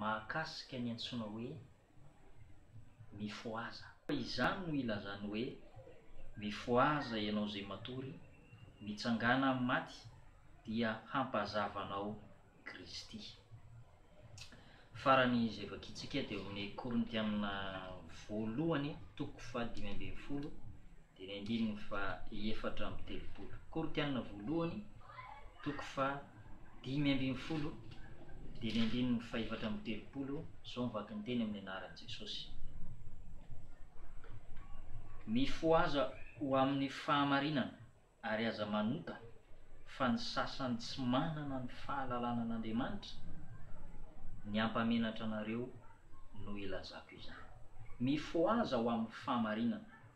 mahakasika ny antsoina hoe mifohaza. Izany no ilazany hoe, Mifohaza ianao izay matory, mitsangàna amin'ny maty, dia hampazava anao Kristy. Farany izay vakintsika dia ao amin'ny Korintiana voalohany toko fahadimy ambin'ny folo Teny andininy faha efatra amby telopolo, Koritiana voalohany, toko faha dimy ambin'ny folo, teny andininy fahefatra amby telopolo, izao ny vatony-teny amin'ny anaran'i Jesosy, Mifohaza ho amin'ny fahamarinana, ary aza manota fa ny sasany tsy manana ny fahalalana an'Andriamanitra ny hampamenatra anareo no ilazako izany. Mifohaza ho amin'ny fahamarinana.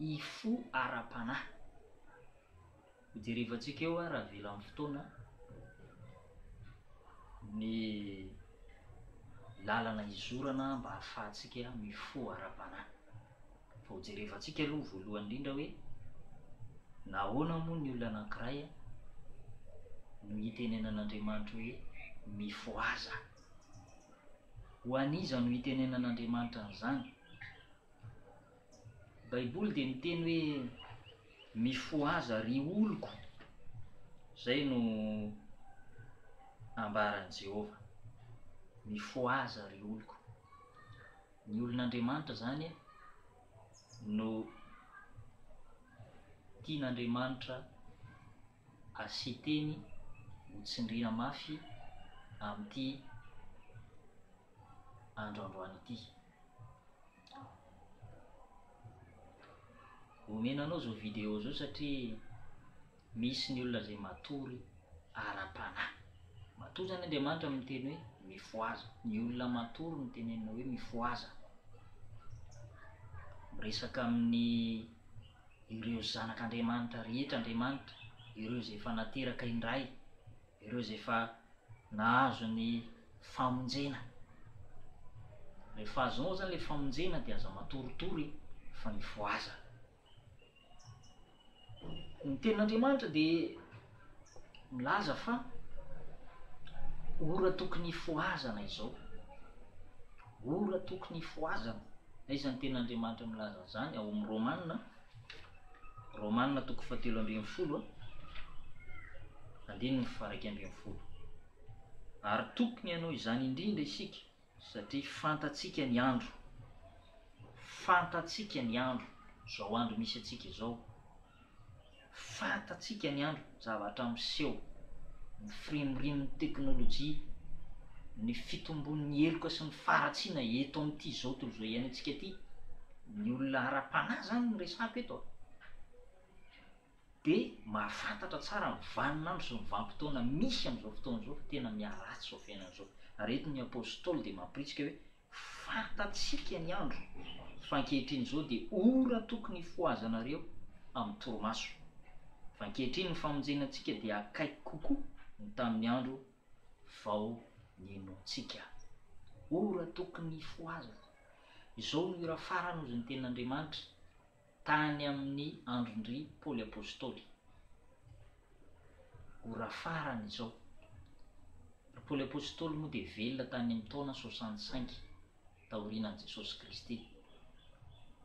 y fo ara-panahy. Ho jerevantsika eo ary avela amin'ny fotoana ny lalana izorana mba hahafahantsika mifoha ara-panahy. Fa ho jerevantsika aloha voalohany indrindra hoe nahoana moa ny olona anankiray no hitenenan'Andriamanitra hoe mifohaza. Ho an'iza no hitenenan'Andriamanitra an'izany? Baiboly dia miteny hoe mifohaza ry oloko, izay no ambaran'i Jehovah, mifohaza ry oloko. Ny olon'Andriamanitra izany no tian'Andriamanitra. ary Siteny ho tsindriana mafy amin'ity andro androany ity. Omena anao izao vidéo izao satria misy ny olona izay matory ara-panahy. Matoa izany Andriamanitra miteny hoe mifohaza, ny olona matory no tenenina hoe mifohaza. Miresaka amin'ny ireo zanak' Andriamanitra rehetra Andriamanitra, ireo izay efa nateraka indray, ireo izay efa nahazo ny famonjena. Rehefa azonao zany le famonjena de aza matoritory fa ny voazana. Ny tenin'Andriamanitra de. milaza fa ora tokony hifohazana izao, ora tokony hifohazana. Aiza ny Tenin'Andriamanitra milaza an'izany? Ao amin'ny Romana, Romana toko fahatelo ambin'ny folo, andininy faraika ambin'ny folo. Ary tokony hanao izany indrindra isika. Satria fantatsika ny andro, fantatsika ny andro, izao andro misy antsika izao, fantatsika ny andro, zavatra miseho, ny firimorimon'ny teknolojia, ny fitombon'ny heloka sy ny faharatsiana eto amin'ity izao tontolo izao iainantsika ity, ny olona ara-panahy izany no resahako eto a! dia mahafantatra tsara ny vanin'andro sy ny vanim-potoana misy amin'izao fotoana izao fa tena miharatsy izao fiainana izao. Ary eto ny Apôstôly dia mampiritsika hoe, Fantatsika ny andro, fa ankehitriny izao dia ora tokony hifohazanareo amin'ny torimaso. Fa ankehitriny ny famonjena antsika dia akaiky kokoa no tamin'ny andro vao nihainoantsika. Ora tokony hifohazana. Izao no ora farany hozy ny Tenin'Andriamanitra. Tany amin'ny andron-dry Paoly Apostoly, ora farany izao. Ry Paoly Apostoly moa dia velona tany amin'ny taona soixante cinq taorianan'i Jesosy Kristy,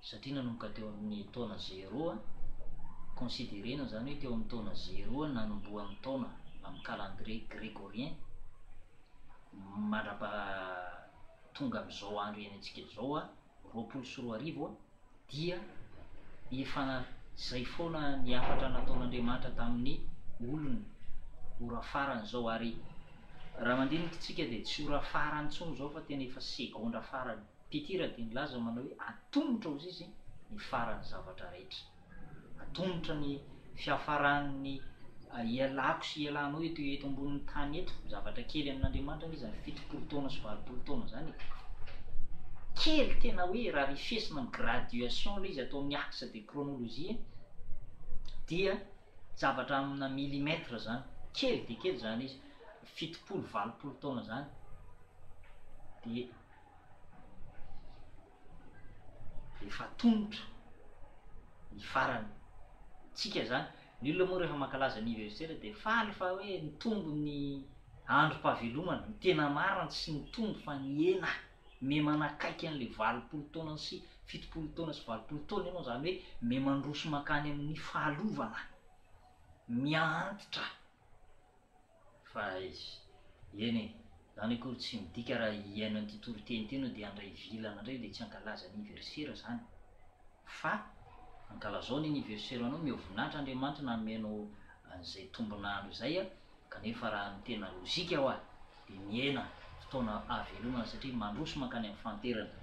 satria nanomboka teo amin'ny taona zéro, considerena izany hoe teo amin'ny taona zéro nanombohan'ny taona amin'ny calendrier grégorien mandra-paha tonga amin'izao andro iainantsika izao, roapolo sy roa arivo. dia efa izay foana ny hafatra nataon'Andriamanitra tamin'ny olony, ora farany izao, ary raha mandiniky tsika dia tsy ora farany intsony izao fa tena efa segondra farany, Petira dia nilaza manao hoe atomotra hozizy ny faran'ny zavatra rehetra. Atomotra ny fiafaran'ny ialako sy ialanao eto eto ambonin'ny tany eto. Zavatra kely amin'Andriamanitra anie izany fitopolo taona sy valopolo taona izany e! Kely tena hoe raha refesina amin'ny graduation ilay izy atao amin'ny axe de chronologie dia zavatra amina millimètre izany. Kely dia kely izany izy. Fitopolo, valopolo taona izany dia. Rehefa atomotra ny farany tsika zany, ny olona moa rehefa mankalaza anniversaire dia faly fa hoe nitombo ny androm-pahavelomana, ny tena marina tsy nitombo fa nihena, me manakaiky an'ilay valopolo taona sy fitopolo taona sy valopolo taona ianao zany hoe me mandroso mankany amin'ny fahalovana, miha antitra. Fa aiza. Eny e, zany akory tsy midika raha hihaino an'ity toriteny ity enao dia handray vilana ndray dia tsy hankalaza anniversaire zany fa ankalazao ny anniversaire anao meo voninahitra Andriamanitra nanome anao an'izay tombon'andro izay a, kanefa raha ny tena lozika hoa. dia miaina fotoana hahavelonana satria mandroso mankany amin'ny fanterana.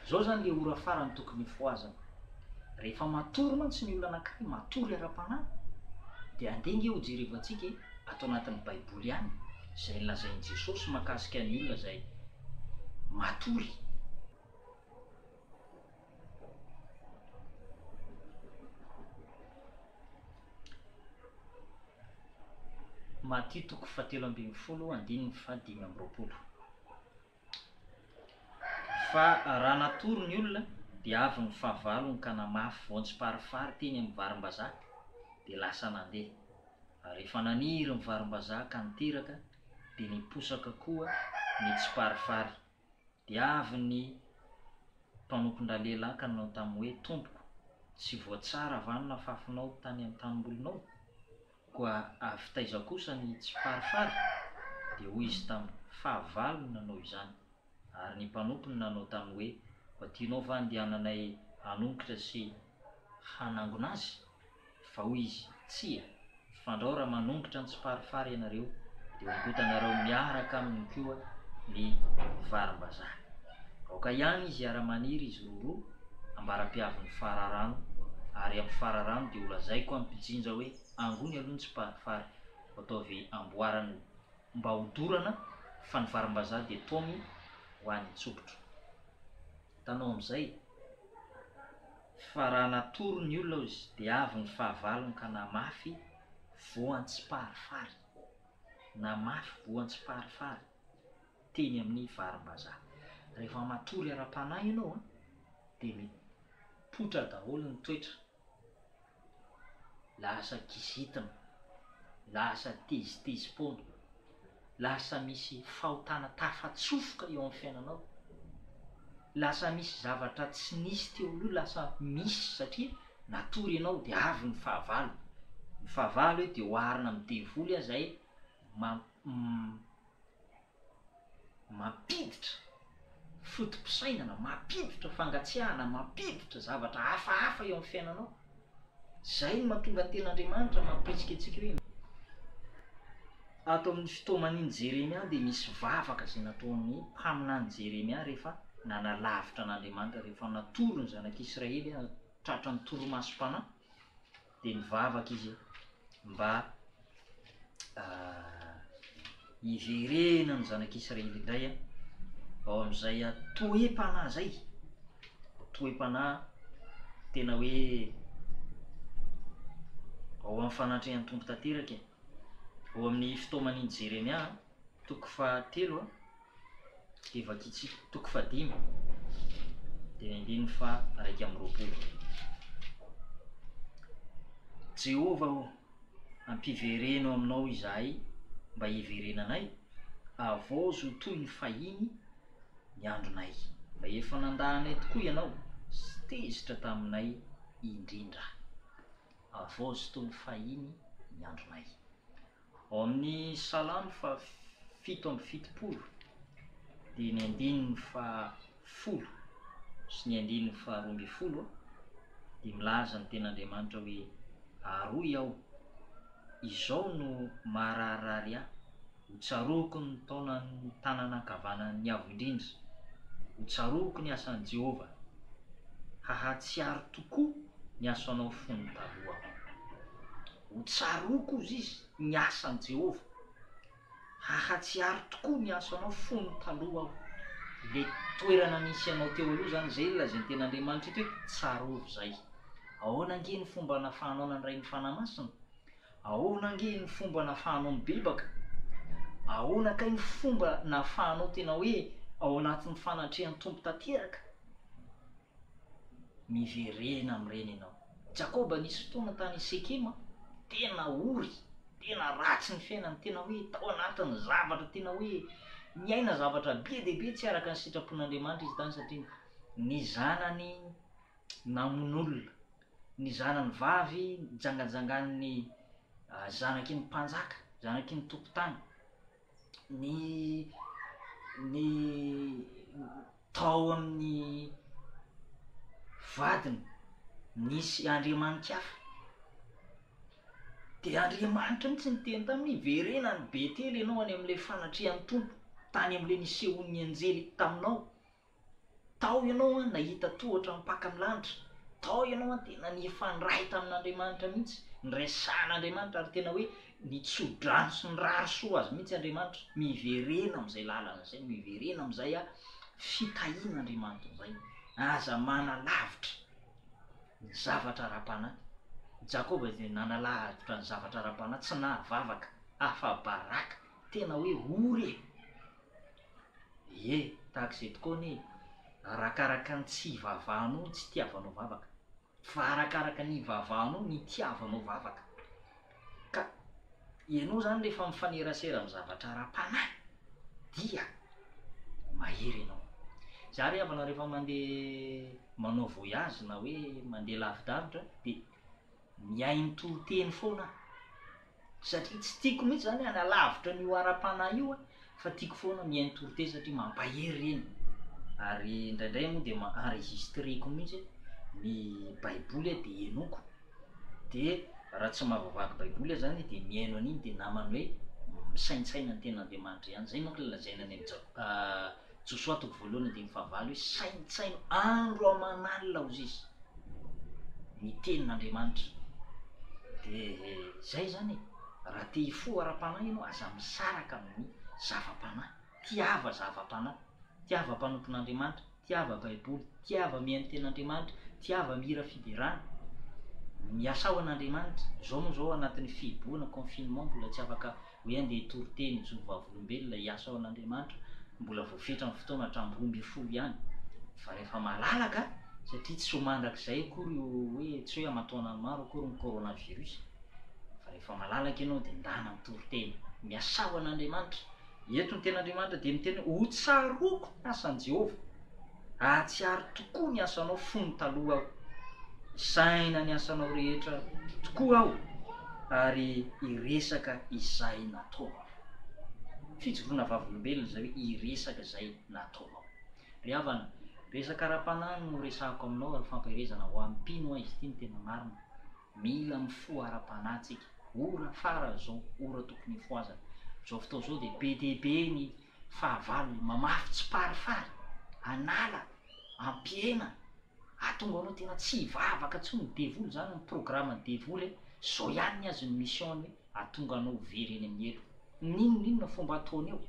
Izao izany ilay ora farany tokony hifohazana. Rehefa matory mantsy ny olona anankiray, matory ara-panahy, dia andeha ange hojerevantsika e, ato anatin'ny Baiboly ihany, izay nolazain'i Jesosy mahakasika ny olona izay matory. Matio toko fahatelo ambin'ny folo andininy fahadimy amby roapolo. Fa raha natory ny olona, dia avy ny fahavalony ka namafy voan-tsiparifary teny amin'ny varimbazaha, dia lasa nandeha. Ary rehefa naniry ny varimbazaha ka niteraka, dia niposaka koa ny tsiparifary. Dia avy ny mpanompon-dralehilahy ka nanao taminy hoe, Tompoko, tsy voatsara va ny nafafinao tany an-tanimbolinao? Koa avy taiza kosa ny tsifarifary? Dia hoy izy taminy, Fahavalo no nanao izany. Ary ny mpanompony nanao taminy hoe, Koa tianao va handehananay hanongotra sy hanangona azy? Vao izy, Tsia! Fandrao raha manongotra ny tsiparifary ianareo dia ongotanareo miaraka aminy koa ny varimbazaha. Aoka ihany izy hiara-maniry izy roroa ambara-pihavin'ny fararano ary amin'ny fararano dia holazaiko amin'ny mpijinja hoe angony aloha ny tsiparifary vao ataovy amboarana mba ho dorana fa ny varimbazaha dia taomy ho any an-tsokitro. Hitanao amin'izay? Fa raha natory ny olona ozy dia avy ny fahavalony ka na mafy voan tsy parifary na mafy voan tsy parifary teny amin ny varimbazaha. Rehefa matory ara panahy ianao an dia mipoitra daholo ny toetra lasa kizitina, lasa tezitezi-poana, lasa misy fahotana tafatsofoka eo amin'ny fiainanao, lasa misy zavatra tsy nisy teo aloha lasa misy satria natory ianao dia avy ny fahavalo, ny fahavalo hoe dia oharina amin'ny devoly aza e, mampiditra foto-pisainana, mampiditra fangatsiahana, mampiditra zavatra hafahafa eo amin'ny fiainanao. Izay no mahatonga tena Andriamanitra mampihetsika antsika hoe ato amin'ny fitaoman'iny Jeremia dia misy vavaka izay nataon'ny mpaminany Jeremia rehefa nanalavitra an'Andriamanitra, rehefa natoro ny zanak'Israely tratran'ny torimasom-panahy. dia nivavaka izy mba hiverena ny zanak'Israely indray ao amin'izay toe-panahy izay, toe-panahy tena hoe ao amin'ny fanatrehan'ny Tompo tanteraka e, ao amin'ny fitaoman'i Jeremia toko fahatelo a. Dia vakitsy toko fahadimy dia ny andininy faha iraika amby roapolo. Jehovah ô, ampivereno aminao izahay mba hiverenanay, havaozy ho toy ny fahiny ny andronay. Fa efa nandà anay tokoa ianao sy tezitra taminay indrindra. Havaozy toy ny fahiny ny andronay. Ao amin'ny Salamo faha fito amby fitopolo dia ny andininy faha folo sy ny andininy faha roa ambin'ny folo dia milaza ny Tenin'Andriamanitra hoe, Aroy aho, izao no mahararirary ahy, ho tsaroako ny taonan'ny tanana ankavanan'ny Avo Indrindra, ho tsaroako ny asan'i Jehovah, hahatsiaro tokoa ny asanao fony taloha aho. Ho tsaroako, hoy izy, ny asan'i Jehovah. Hahatsiaro tokoa ny asanao fony taloha aho. Ilay toerana nisy anao teo aloha izany, izay ilay lazain'ny teny Andriamanitra eto hoe, Tsarovy izay. Ahoana ange ny fomba nafahanao nandray ny fanahy masina? Ahoana ange ny fomba nafahanao nibebaka? Ahoana kay ny fomba nafahanao tena hoe ao anatin'ny fanatrehan'ny Tompo tanteraka? Miverena amin'ireny ianao. Jakoba nisy fotoana tany Sekema, tena ory, tena ratsy ny fiainany, tena hoe tao anatin'ny zavatra, tena hoe niaina zavatra be dia be tsy araka ny sitrapon'Andriamanitra izy tany satria ny zanany namono olona, ny zanany vavy nijangajangan'ny ah, zanaky ny mpanjaka, zanaky ny tompon-tany, ny ny Tao amin'ny vadiny nisy andriamani-kafa. Dia Andriamanitra mihitsy niteny taminy, Hiverena any Betela ianao any amin'ilay fanatrehan'ny Tompo, tany amin'ilay nisehoan'ny anjely taminao. Tao ianao an, nahita tohatra mpaka ny lanitra. Tao ianao an, tena nifandray tamin'Andriamanitra mihitsy, niresahan'Andriamanitra ary tena hoe ny tsodrano sy ny rary soa azy mihitsy Andriamanitra, miverena amin'izay lalana izay, miverena amin'izay a fitahiana Andriamanitra izay, aza manalavitra ny zavatra ara-panahy, Jakoba dia nanalavitra ny zavatra ara-panahy, tsy nahavavaka afa-baraka, tena hoe ory e, ie tahaka izay tokoa anie e, arakaraka ny tsy ivavahanao ny tsy itiavanao vavaka. Fa arakaraka ny ivavahanao, ny itiavanao vavaka. Ka ianao izany rehefa mifanerasera amin'ny zavatra ara-panahy, dia mahery ianao. Izaho ry havana rehefa mandeha manao voyage na hoe mandeha lavidavitra dia mihaino toriteny foana aho. satria tsy tiako mihitsy zany hanalavitra an'io ara-panahy io aho fa tiako foana mihaino torite satria mampahery ireny ary indraindray moa dia ma- enregistreko mihitsy ny baiboly aho dia henoiko de raha tsy mahavaky baiboly aho zany de mihaino an'iny de namany hoe misaintsaina ny ten'andriamanitra ihany zay manko le lazaina any am' ja- Josoa toko voalohany andininy fahavalo hoe saintsaino andro aman'alina ozy izy ny tenin'Andriamanitra de zay zany e raha te hifoha ara-panahy ianao aza misaraka amin'ny zava-panahy tiava zava-panahy tiava mpanompon'Andriamanitra tiava baiboly tiava mihaino tenin'Andriamanitra tiava mihira fiderana miasao an'Andriamanitra zao moa zao anatin'ny fihibohana confinement mbola tsy afaka hoe andeha hitory teny hijoro vavolombelona hiasa ao an'Andriamanitra mbola vao fetra ny fotoana hatramin'ny roa ambin'ny folo ihany fa rehefa malalaka satria tsy ho mandrakizay akory io hoe tsy hoe aman-taonany maro akory ny coronavirus fa rehefa malalaka ianao dia ndana mitory teny miasa ao an'Andriamanitra eto ny tenin'Andriamanitra dia miteny hoe ho tsaroako ny asan'i Jehovah Ahatsiaro tokoa ny asanao fony taloha aho. Isaina ny asanao rehetra tokoa aho ary hiresaka izay nataonao. Fijoroana vavolombelona izay hoe hiresaka izay nataonao. Ry havana, resaka ara-panahy no resahiko aminao ary fampielezana ho an'ny mpino an izy ity no tena marina. Mila mifoha ara-panahy tsika. Ora fara izao, ora tokony hifohazana. Izao fotoana izao dia be dia be ny. Fahavalo, mamafy tsiparifary, an'ala, ampihena, ahatonga anao tena tsy hivavaka intsony ny devoly, zany ny programme devoly e, zao ihany ny azy ny mission-ny hoe ahatonga anao ho very eny amin'ny helo. N'inon'inona fomba ataony eo,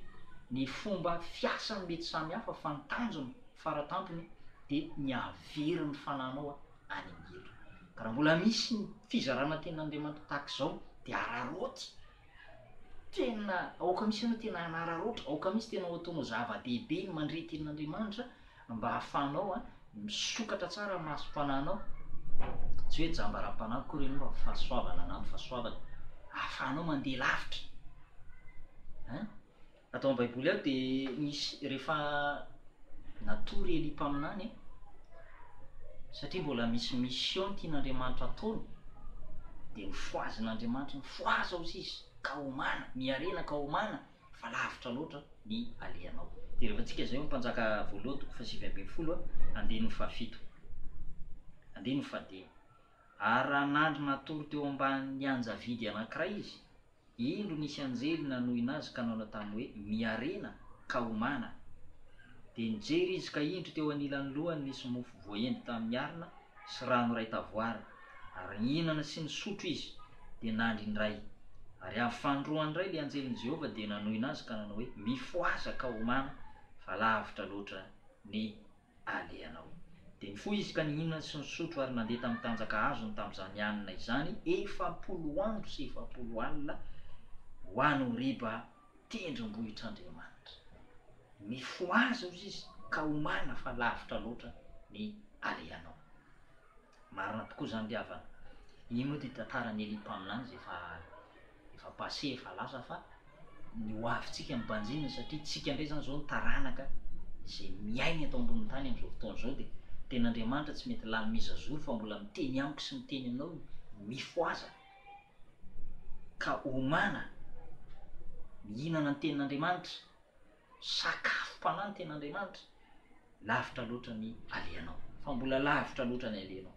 ny fomba fiasany mety samy hafa fa ny tanjony fara tampony de ny hahavery ny fananao any amin'ny helo. Ka raha mbola misy ny fizarana tenin'Andriamanitra tahaka izao de araraoty Tena aoka misy anao tena hanararaotra, aoka misy tena ho ataonao zava-dehibe ny mandre tenin'Andriamanitra mba hahafahanao a misokatra tsara ny masom-panahinao, tsy hoe jamba ara-panahy akory ianao fa fahasoavana an'amin'ny fahasoavany, ahafahanao mandeha lavitra an. Ato amin'ny Baiboly ao dia nisy rehefa natory Elia mpaminany e, satria mbola misy mission tian'Andriamanitra ataony, dia nofohazin'Andriamanitra hoe fohaza ozy izy ka homana, miharena ka homana fa lavitra loatra ny alehanao. Dia revantsika izay ao amin'ny Mpanjaka voalohany toko fahasivy ambin'ny folo andininy fahafito, andininy fahadimy, Ary raha nandry natory teo ambany anjavidy anankiray izy, Indro nisy anjely nanohina azy ka nanao taminy hoe, Miarena, ka homana! Dia nijery izy ka indro teo anilan'ny lohany nisy mofo voaendy tamin'ny harona sy rano iray tavoara, ary nihinana sy nisotro izy, dia nandry indray. Ary avy fanindroany indray ilay anjelin'i Jehovah dia nanohina azy ka nanao hoe, Mifohaza ka homana, fa lavitra loatra ny alehanao. Dia nifoha izy ka nihinana sy nisotro ary nandeha tamin'ny tanjaka azony tamin'izany alina izany, efapolo andro sy efapolo alina, ho any Horiba, tendrombohitr'Andriamanitra. Mifohaza hozy izy ka homana fa lavitra loatra ny alehanao. Marina tokoa izany ry havana. Iny moa ity tantaran'i Elia mpaminany izay efa efa passé efa lasa fa ny ho avintsika no banjinina satria tsika indray izany izao ny taranaka izay miaina eto ambonin'ny tany amin'izao fotoana izao dia tena Andriamanitra tsy mety lany mi zazoro fa mbola miteny amiko sy miteny aminao hoe mifohaza ka homana mihinana ny tenin'Andriamanitra Sakafom-panahy ny tenin'Andriamanitra, lavitra loatra ny alehanao. Fa mbola lavitra loatra ny alehanao.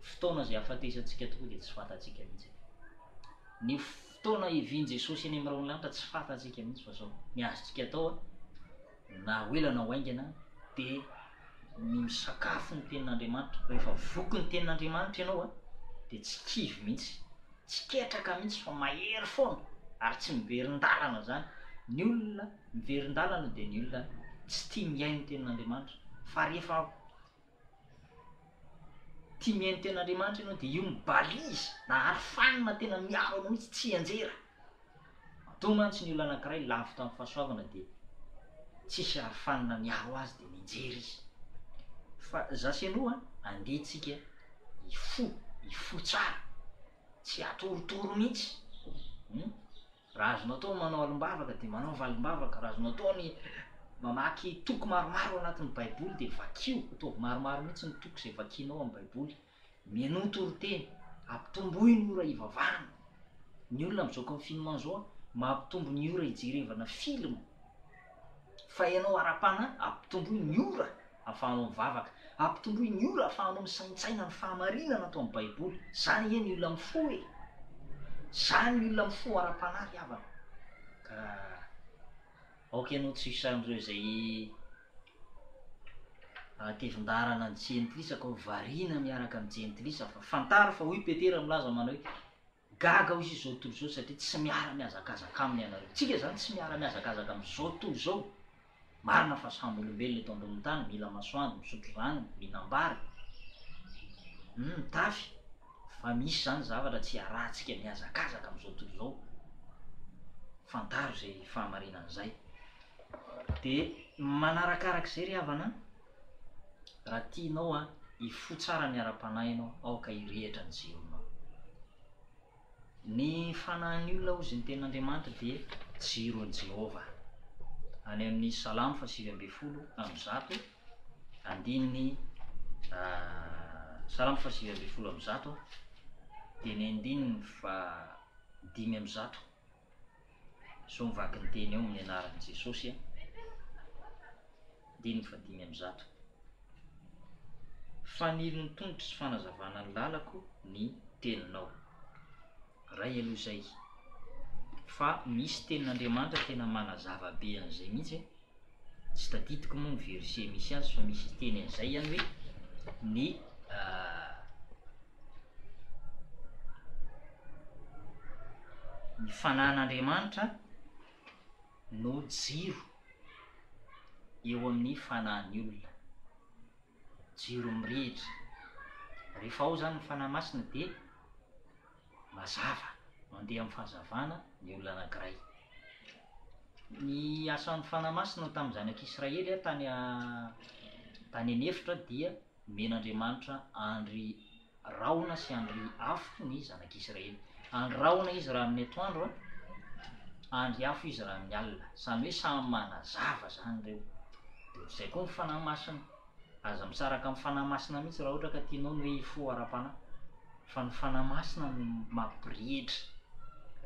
Fotoana izay hahafatesantsika tokoa dia tsy fantatsika mihitsy e. Ny fotoana hivian'i Jesosy eny amin'ny rahon'ny lanitra tsy fantatsika mihitsy fa izao. Ny azontsika atao, na ho ela na ho haingana, dia ny misakafo ny tenin'Andriamanitra. Rehefa voky ny tenin'Andriamanitra ianao a, dia tsy kivy mihitsy, tsy ketraka mihitsy fa mahery foana ary tsy miverin-dalana zany. Ny olona miverin-dalana dia ny olona tsy tia mihaino ny tenin'Andriamanitra, fa rehefa tia mihaino ny tenin'Andriamanitra ianao dia io mibalizy na arofanina tena miaro anao mihitsy, tsy hianjera. Matoa mantsy ny olona anankiray lavitra amin'ny fahasoavana dia tsisy arofanina miaro azy dia mianjera izy. Fa za sy anao an, andeha tsika hifoha, hifoha tsara, tsy atorotoro mihitsy hum, raha azonao atao ny manao alim-bavaka dia manaova alim-bavaka, raha azonao atao ny mamaky toko maromaro ao anatin'ny baiboly dia vakio, ataovy maromaro mihitsy ny toko izay vakianao amin'ny baiboly. Mihainoa ny toriteny, ampitomboy ny ora hivavahana. Ny olona amin'izao confinement izao a, mampitombo ny ora hijerevana film. Fa ianao ara-panahy, ampitomboy ny ora ahafahanao mivavaka. Ampitomboy ny ora ahafahanao misaintsaina ny fahamarinana ato amin'ny Baiboly. Izany ange ny olona mifoha e! Izany ny olona mifoha ara-panahy ry havana. Ka aoka ianao tsy ho isan'ireo izay. Hatevin-dàlana ny jentilisa ka ho variana miaraka amin'ny jentilisa fa fantaro fa hoy Petera milaza manao hoe, Gaga hoy izao tontolo izao satria tsy miara-mihazakazaka aminy ianareo. Tsika izany tsy miara-mihazakazaka amin'izao tontolo izao. Marina fa samy olombelona eto ambonin'ny tany, mila masoandro, misotro rano, mihinam-bary, mitafy, fa misy izany zavatra tsy iarahantsika mihazakazaka amin'izao tontolo izao. Fantaro izay fahamarinana izay. Dia manarakaraka izay ry havana an! Raha tianao an, hifoha tsara ny ara-panahy ianao, aoka hirehitra ny jeronao. Ny fanahin'ny olona, hozy ny Tenin'Andriamanitra, dia jiron'i Jehovah. Any amin'ny Salamo fahasivy ambin'ny folo amby zato, andininy, Salamo fahasivy ambin'ny folo amby zato, dia ny andininy faha dimy amby zato. Zao mivaky ny teny eo amin'ny anaran'i Jesosy a! Andininy fahadimy amby zato. Fanilon'ny tongotro sy fanazavana ny lalako ny teninao. Ray aloha izay. Fa misy tenin'Andriamanitra tena manazava be an'izay mihitsy e! Tsy tadidiko moa ny verset misy azy fa misy hiteny an'izay ihany hoe ny ny fanahin'Andriamanitra no jiro eo amin'ny fanahin'ny olona, jiro mirehitra. Rehefa ao izany ny fanahy masina dia mazava, mandeha amin'ny fahazavana ny olona anankiray. Ny asan'ny Fanahy Masina tamin'ny zanak'Israely tany tany an'efitra dia nomen'Andriamanitra andry rahona sy andry afo ny zanak'Israely. Andry rahona izy raha amin'ny atoandro, andry afo izy raha amin'ny alina. Izany hoe samy manazava izany ireo. Dia izay koa ny Fanahy Masina. Aza misaraka amin'ny Fanahy Masina mihitsy raha ohatra ka tianao ny hoe hifoha ara-panahy. Fa ny Fanahy Masina no mampirehitra.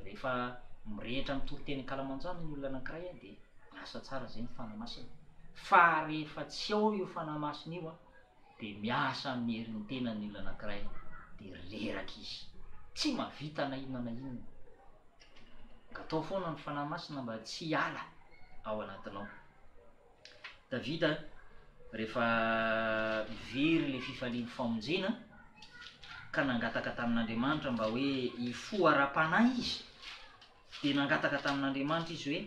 Rehefa mirehitra amin'ny toriteny ankalamanjana ny olona anankiray dia miasa tsara izay ny Fanahy Masina. Fa rehefa tsy ao io Fanahy Masina io dia miasa amin'ny herin'ny tenany ny olona anankiray dia reraka izy. Tsy mahavita na inona na inona. Angataho foana ny Fanahy Masina mba tsy hiala ao anatinao. Davida rehefa very ilay fifalian'ny famonjena ka nangataka tamin'Andriamanitra mba hoe hifoha ara-panahy izy, dia nangataka tamin'Andriamanitra izy hoe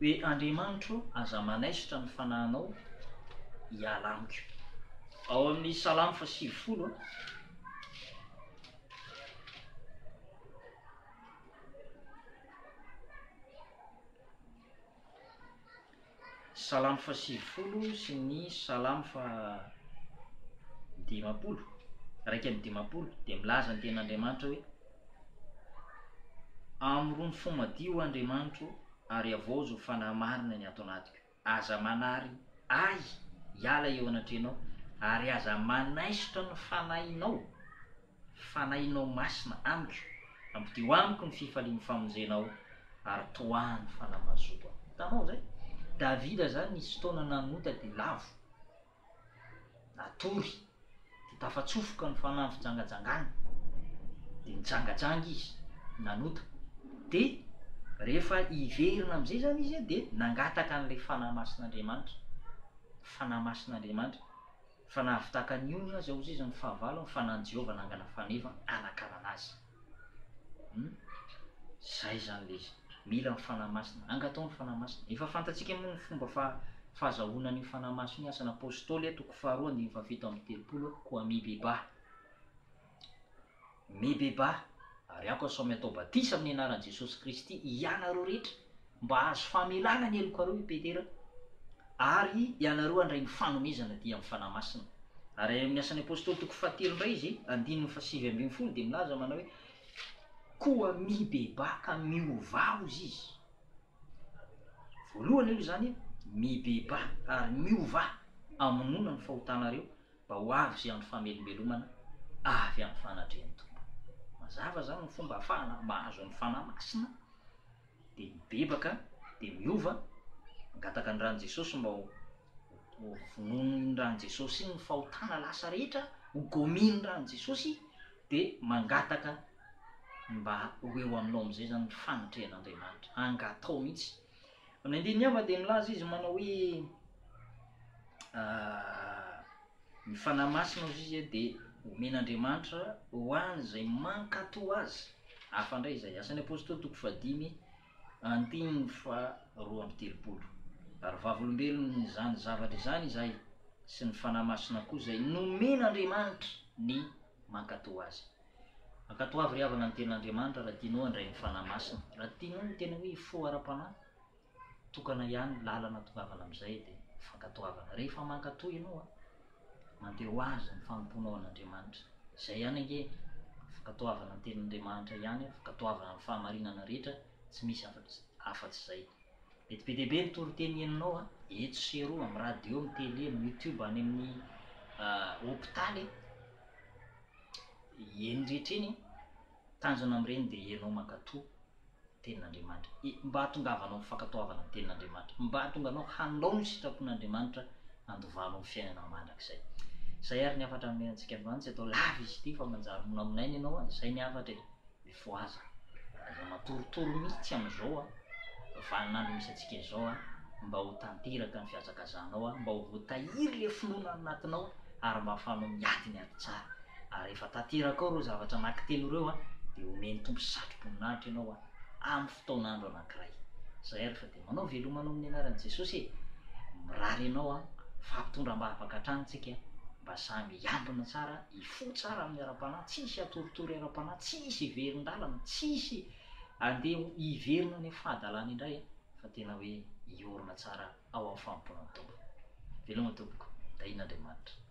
hoe Andriamanitro aza manaisotra ny fanahinao hiala amiko. Ao amin'ny Salamo fahasivifolo a. Salamo fahasivifolo sy ny Salamo fahadimampolo, iraika amby dimampolo, dia milaza ny tenin'Andriamanitra hoe, Amorono fo madio, Andriamanitro, ary havaozo ho fanahy marina ny ato anatiko. Aza manary Ahy hiala eo anatrehanao, ary aza manaisotra ny Fanahinao, Fanahinao Masina, Amiko. Ampidio Amiko ny fifalian'ny famonjenao, ary toaha ny fanamazoko Aho. Hitanao izay? Davida izany nisy fotoana nanota dia lavo. natory dia tafatsofoka ny fanahy fijangajangana dia nijangajanga izy nanota dia rehefa hiverina am'izay zany izy e dia nangataka an'ilay fanahy masin'andriamanitra fanahy masin'andriamanitra fa nahavitaka ny ony azy aho zay zany fahavalo ny fanan'i jehovah nangana faneva hanakanana azy Hum, zay zany le izy, mila ny Fanahy Masina, angatao ny Fanahy Masina. Efa fantatsika moa ny fomba fa fahazahoana an'io Fanahy Masina io, Asan' Apôstôly a, toko faharoa andininy fahafito amby telopolo a, koa mibebaha, mibebaha, ary aoka sao miatao batisa amin'ny anaran'i Jesosy Kristy hianareo rehetra, Mba hahazo famelana ny helokareo i Petera, ary ianareo handray ny fanomezana dia amin'ny Fanahy Masina. Ary any amin'ny Asan'ny Apostoly toko fahatelo indray izy, andininy fahasivy ambin'ny folo dia milaza manao hoe, Koa mibebaha ka miovà hozy izy. Voalohany aloha izany, mibebaha ary miovà amonoana ny fahotanareo mba ho avy izay andro famelombelomana avy amin'ny fanatrehan'ny Tompo. Mazava izany ny fomba ahafahana mahazo ny Fanahy Masina. dia mibebaka, dia miova, mangataka ny ran'i Jesosy mba ho ho vonoin'ny ran'i Jesosy iny ny fahotana lasa rehetra, ho gomin'ny ran'i Jesosy, dia mangataka mba ho eo aminao amin'izay zany ny fanatrehan'Andriamanitra, angatao mihitsy. Amin'ny andininy hafa dia milaza izy manao hoe, Ny Fanahy Masina, hoy izy, dia omen'Andriamanitra ho an'izay mankatò Azy. Hafa indray izay. Asan'ny Apostoly, toko fahadimy, andininy faharoa amby telopolo. Ary vavolombelon'izany zavatra izany izahay, sy ny Fanahy Masina koa izay nomen'Andriamanitra ny mankatò Azy. Ankatoavy ry havana ny Tenin'Andriamanitra raha tianao handray ny Fanahy Masina, raha tianao ny tena hoe fo ara-panahy. tokana ihany lalana tongavan amin'izay dia fankatoavana. Rehefa mankatoa ianao a, mandeha ho azy ny fanompoanao an'Andriamanitra. Izay ihany ange, fankatoavana ny tenin'Andriamanitra ihany, fankatoavana ny fahamarinana rehetra, tsy misy afatsy izay. Mety be dia be ny toriteny henonao a, eto sy eroa, amin'ny radio, amin'ny télé, amin'ny youtube, any amin'ny hopitaly, eny rehetra eny, Tanjona amin'ireny dia ianao mankatò ny tenin'Andriamanitra, mba hahatongavanao ny fankatoavana ny tenin'Andriamanitra, mba hahatonganao hanao ny sitrapon'Andriamanitra handovanao ny fiainana mandrakizay. Izay ary ny hafatra hanome antsika androany, tsy atao lava izy ity fa manjary monamonaina ianao an, izay ny hafatra e! Mifohaza, aza matoritory mihitsy amin'izao an, vanin'andro misy antsika izao an, mba ho tanteraka ny fihazakazanao an, mba ho voatahiry ilay finoana ao anatinao ary mba ahafahanao miady ny ady tsara. ary rehefa tanteraka ao ireo zavatra anankitelo ireo an, dia homen'ny Tompo satroboninahitra ianao an, amin'ny fotoan'andro anankiray. Izay ary fa dia manao veloma anao amin'ny anaran'i Jesosy e! Mirary anao an, fampitondra am-bavaka hatrany tsika an, mba samy hiambina tsara, hifoha tsara amin'ny ara-panahy, tsy hisy hatoritory ara-panahy, tsy hisy hiverin-dalana, tsy hisy handeha hiverina any amin'ny fahadalana indray an, fa tena hoe hiorina tsara ao amin'ny fanompoana ny Tompo. Veloma tompoko, tahian'Andriamanitra.